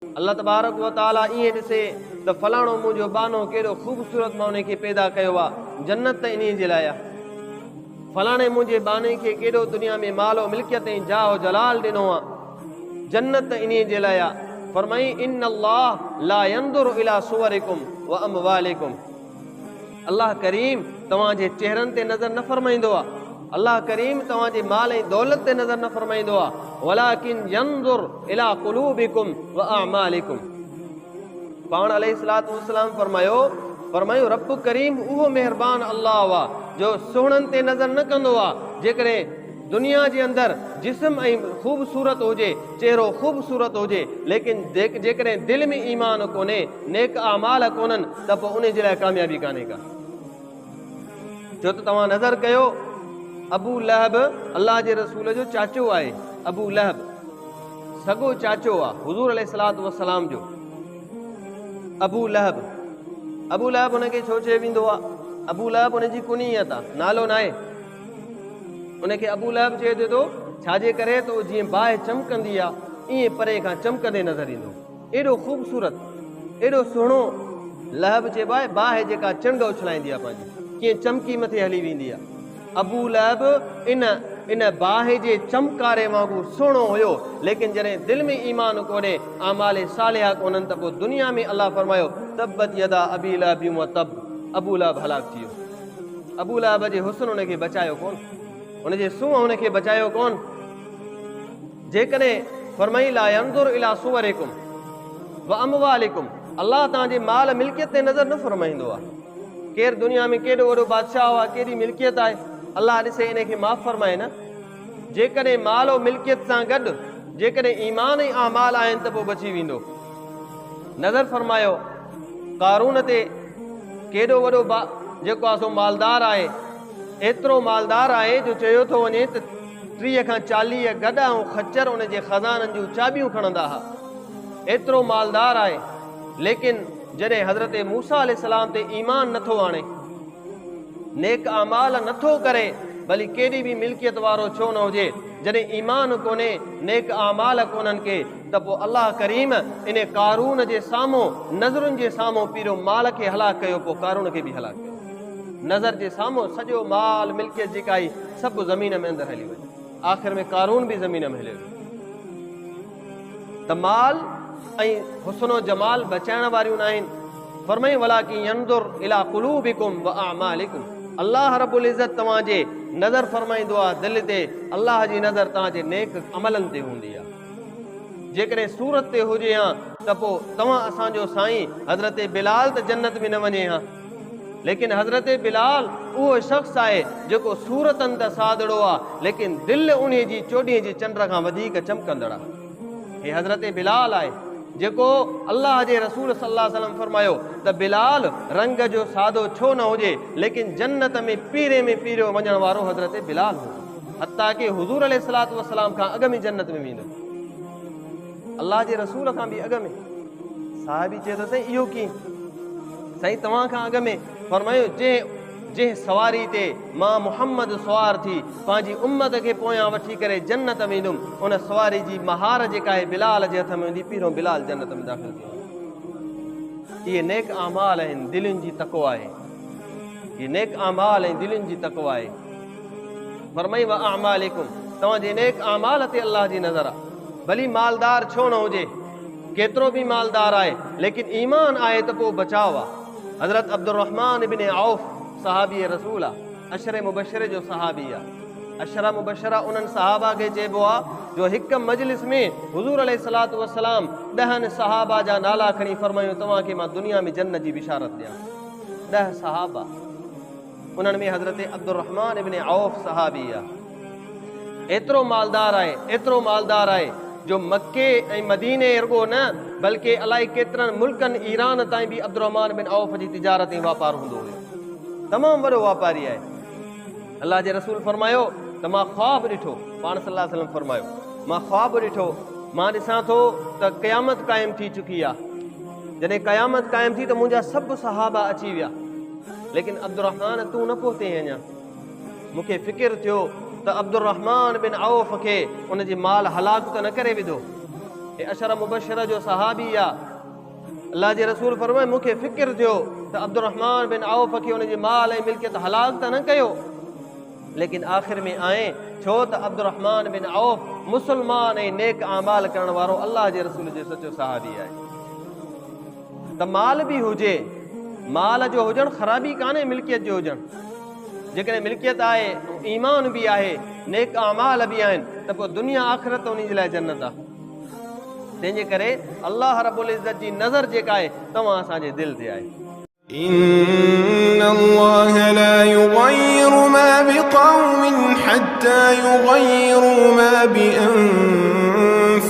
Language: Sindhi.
الله تبارڪ و تعاليٰ ائين ڏسي ته فلاڻو منهنجو ٻانهو ڪيڏو خوبصورت مان ان کي پيدا ڪيو آ، جنت ته انهيء جي لاء آ. فلاڻي منهنجي ٻانهي کي ڪيڏو دنيا ۾ مال و ملڪيت ۽ جاه و جلال ڏنو آ، جنت ته انهيء جي لاء آ. فرمائين، ان الله لا ينظر الي صورڪم و اموالڪم. الله ڪريم توهان جي چهرن تي نظر نه فرمائيندو آهي. الله ڪريم توهان جي مال ۽ دولت تي نظر نه فرمائيندو آهي. ولٰڪن ينظر الي قلوبڪم واعمالڪم پاڻ عليه الصلوة والسلام فرمايو فرمايو رب ڪريم اهو مهربان الله آهي جو سهڻن تي نظر نه ڪندو آهي جيڪڏهن دنيا جي اندر جسم ۽ خوبصورت هجي، چهرو خوبصورت هجي، ليڪن جيڪڏهن دل ۾ ايمان ڪونهي، نيڪ اعمال ڪونهن ته پوء انهي جي لاء ڪاميابي ڪانهي ڪا. ڇو ته توهان نظر ڪيو ابو لهب الله جي رسول جو چاچو آهي، ابو لهب سڳو چاچو آ حضور عليه الصلوة والسلام جو، ابو لهب، ابو لهب ان کي ڇو چيو ويندو آ، ابو لهب ان جي ڪنيت آ نالو ناهي، ان کي ابو لهب چئي ڏنو، ڇا جي ڪري ته اهو جيئن باهه چمڪندي آ، ايئن پري کان چمڪندي نظر ايندو. ايڏو خوبصورت، ايڏو سهڻو لهب چئبو آهي، باهه جيڪا چنڊ اڇلائيندي آ پنهنجي، ڪيئن چمڪي مٿي هلي ويندي آ. ابو لهب ان ان باهه جي چمڪاري وانگر سهڻو هيو، ليڪن جڏهن دل ۾ ايمان ڪونهي، اعمال صالحه ڪونهن ته پوء دنيا ۾ الله فرمايو، تبت يدا ابي لهب وتب، ابو لهب هلاڪ ٿي ويو. ابو لهب جي حسن هن کي بچايو ڪون، هن جي سونهن هن کي بچايو ڪون. جيڪڏهن فرمائي لا ينظر الى صوركم واموالكم الله توهان جي مال ملڪيت تي نظر نه فرمائيندو آهي. ڪير دنيا ۾ ڪيڏو وڏو بادشاهه آهي، ڪيڏي ملڪيت آهي، الله ڏسي انهي کي معاف فرمائي نه. جيڪڏهن مال و ملڪيت سان گڏ جيڪڏهن ايمان ۽ اعمال آهن ته پوء بچي ويندو. نظر فرمايو قارون تي ڪيڏو وڏو با جيڪو آهي سو مالدار آهي ايترو مالدار آهي جو چيو ٿو وڃي ته ٽيهه کان چاليهه گڏا ۽ خچر ان جي خزانن جون چاٻيون کڻندا ها ايترو مالدار آهي ليڪن جڏهن حضرت موسا عليه السلام تي ايمان نٿو آڻي نيڪ اعمال نٿو ڪري ڀلي ڪيڏي به ملڪيت وارو ڇو نه هجي جڏهن ايمان ڪونهي نيڪ اعمال ڪونهن کي ته پوء الله ڪريم ان قارون جي سامهون نظرن جي سامهون پيرو مال کي هلاڪ ڪيو پوء قارون کي به هلاڪ ڪيو نظر جي سامهون سڄو مال ملڪيت جيڪا هئي سڀ زمين ۾ اندر هلي وئي آخر ۾ قارون به زمين ۾ هليو ته مال ۽ حسن و جمال بچائڻ واريون نه آهن فرمائي ولا کی ينظر الى قلوبكم واعمالكم الله رب العزت توهان جي نظر فرمائيندو آ دل تي الله جي نظر توهان جي نيڪ عملن تي هوندي آ جيڪڏهن صورت تي هجي ها ته پوء توهان اسان جو سائين حضرت بلال ته جنت ۾ نه وڃي ها ليڪن حضرت بلال اهو شخص آهي جيڪو صورتن ته سادڙو آ ليڪن دل انهي جي چوڏهين جي چنڊ کان وڌيڪ چمڪندڙ آ هي حضرت بلال آهي جيڪو الله جي رسول صلي الله عليه وسلم فرمايو ته بلال رنگ جو سادو ڇو نه هجي ليڪن جنت ۾ پيري ۾ پيريو وڃڻ وارو حضرت بلال هو حتيٰ ڪي حضور عليه الصلات والسلام کان اڳ ۾ جنت ۾ ويندو الله جي رسول کان به اڳ ۾ صحابي چي ته سائين اهو ڪي سائين توهان کان اڳ ۾ فرمايو جي جنهن سواري تي ماء محمد سوار ٿي پنهنجي امت کي پويان وٺي ڪري جنت ۾ ايندم ان سواري جي مهار جيڪا آهي بلال جي هٿ ۾ هوندي پيرو بلال جنت ۾ داخل ٿي اهي نيڪ اعمال آهن دلين جي تقوا آهي اهي نيڪ اعمال ۽ دلين جي تقوا آهي فرمائي واعمالڪم توهان جي نيڪ اعمال تي الله جي نظر آهي ڀلي مالدار ڇو نه هجي ڪيترو به مالدار آهي ليڪن ايمان آهي ته پوء بچاء آهي حضرت عبدالرحمان ابن عوف صحابي رسول آ اشر مبشر جو صحابي آ اشر مبشرا انهن صحابا کي چئبو آ جو هڪ مجلس ۾ حضور عليه الصلات والسلام ڏهن صحابا جا نالا کڻي فرمايو توهان کي مان دنيا ۾ جنت جي بشارت ڏيان ڏه صحابا انهن ۾ حضرت عبدالرحمان ابن عوف صحابي آهي ايترو مالدار آهي ايترو مالدار آهي جو مڪي ۽ مديني ارڳو نه بلڪه الائي ڪيترن ملڪن ايران تائين به عبدالرحمان بن عوف جي تجارت ۽ واپار هوندو هيو تمام وڏو واپاري آهي الله جي رسول فرمايو ته مان خواب ڏٺو پاڻ صلي الله وسلم فرمايو مان خواب ڏٺو مان ڏسان ٿو ته قيامت قائم ٿي چڪي آهي جڏهن قيامت قائم ٿي ته منهنجا سڀ صحابا اچي ويا ليڪن عبدالرحمان تون نه پهتين اڃا. مون کي فڪر ٿيو ته عبدالرحمان بن عوف کي ان جي مال هلاڪ ته نه ڪري وڌو. هي عشره مبشره جو صحابي آ. الله جي رسول فرمايو مون کي فڪر ٿيو ته عبدالرحمان بن عوف کي ان جي مال ۽ ملڪيت هلاڪ ته نه ڪيو. ليڪن آخر ۾ آئين ڇو ته عبدالرحمان بن عوف مسلمان ۽ نيڪ اعمال ڪرڻ وارو الله جي رسول جو سچو صحابي آهي. ته مال به هجي مال جو هجڻ خرابي ڪانهي ملڪيت جو هجڻ جيڪڏهن ملڪيت آهي ايمان به آهي نيڪ اعمال به آهن ته پوء دنيا آخرت ان جي لاء جنت آهي تنهن جي ڪري الله رب العزت جي نظر جيڪا آهي توهان اسان جي دل تي آهي إن الله لا يغير ما بقوم حتى يغيروا ما بأنفسهم